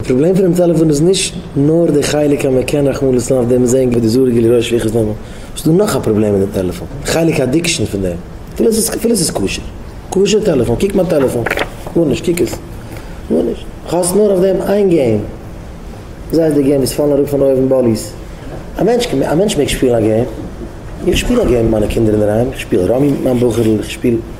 די פראבלעם פונעם טעלעפאן איז נישט נאר די חלק אז מען קען רחמנא ליצלן אויף דעם זען ווי די זארעגע ליראה שפיכות דמים, ס'איז דא נאך א פראבלעם מיט די טעלעפאן, די חלק אדיקשאן פון דעם, אפילו ס'איז כשר, כשר טעלעפאן, קוק מיין טעלעפאן, גארנישט, קוק עס, גארנישט, כ'האס נאר אויף דעם איין געים, זיי איז די געים וואס פאלן אראפ פון אויבן באליס, א מענטש, א מענטש מעג שפילן א געים, איך שפיל א געים מיט מיינע קינדער אינדערהיים, איך שפיל ראמי מיט מיין בחור'ל, איך שפיל.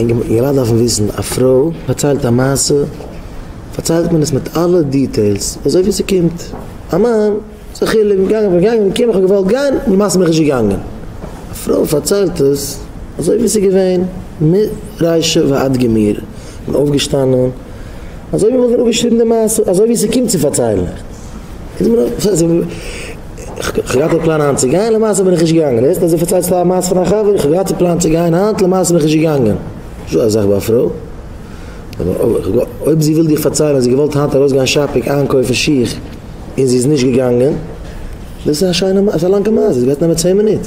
און געלאזט דארפן וויסן א פרוי פארציילט א מעשה פארציילט מען עס מיט אלע דיטעילס אזוי ווי ס'קומט א מאן ס'א חילוק געגאנגען בין געגאנגען געקומען כ'האב געוואלט גיין למעשה בין איך נישט געגאנגען א פרוי פארציילט עס אזוי ווי ס'איז געווען מרישא ועד גמרא בין אויפגעשטאנען אזוי ווי מ'האט מיר אפגעשריבן די מעשה אזוי ווי ס'קומט צו פארציילן. כ'געהאט געפלאנט היינט צו גיין למעשה בין איך נישט געגאנגען דער ערשטער אז ער פארציילט פאר א מעשה פון א חבר איך האב געהאט געפלאנט צו גיין היינט למעשה בין איך נישט געגאנגען נישטא אזאך ביי א פרוי אויב זי וויל דיר פארציילן אז זי האט געוואלט היינט ארויס גיין שאפינג איינקויפן שיך און זי איז נישט געגאנגען דאס איז א שיינע מעשה א לאנגע מעשה דאס גייט נעמען צען מינוט.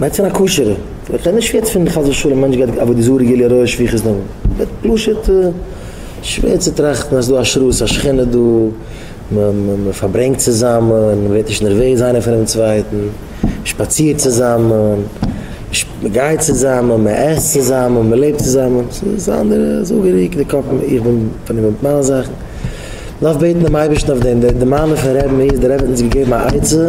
מיינסט אין א כשר'ע, איך רעד נישט יעצט פון חס ושלום מענטש גייט עבודה זרה גיליון רואה שפיכות דמים, איך רעד פשוט שווער צו טראכטן אז ס'איז דא א שרות א שכינה דא, מ'פארברענגט צוזאמען, מ'ווערט נישט נערוועז איינער פונעם צווייטן, מ'שפאצירט צוזאמען, מ'גייט צוזאמען, מ'עסט צוזאמען, מ'לעבט צוזאמען, ס'איז א אנדערע זאגעריי, די קאפ, איך בין פארנומען מיט מיינע זאכן, מ'דארף בעטן דעם אייבערשטן אויף דעם, די מעלה פון ר' מאיר איז דער רבי האט אונז געגעבן א עצה,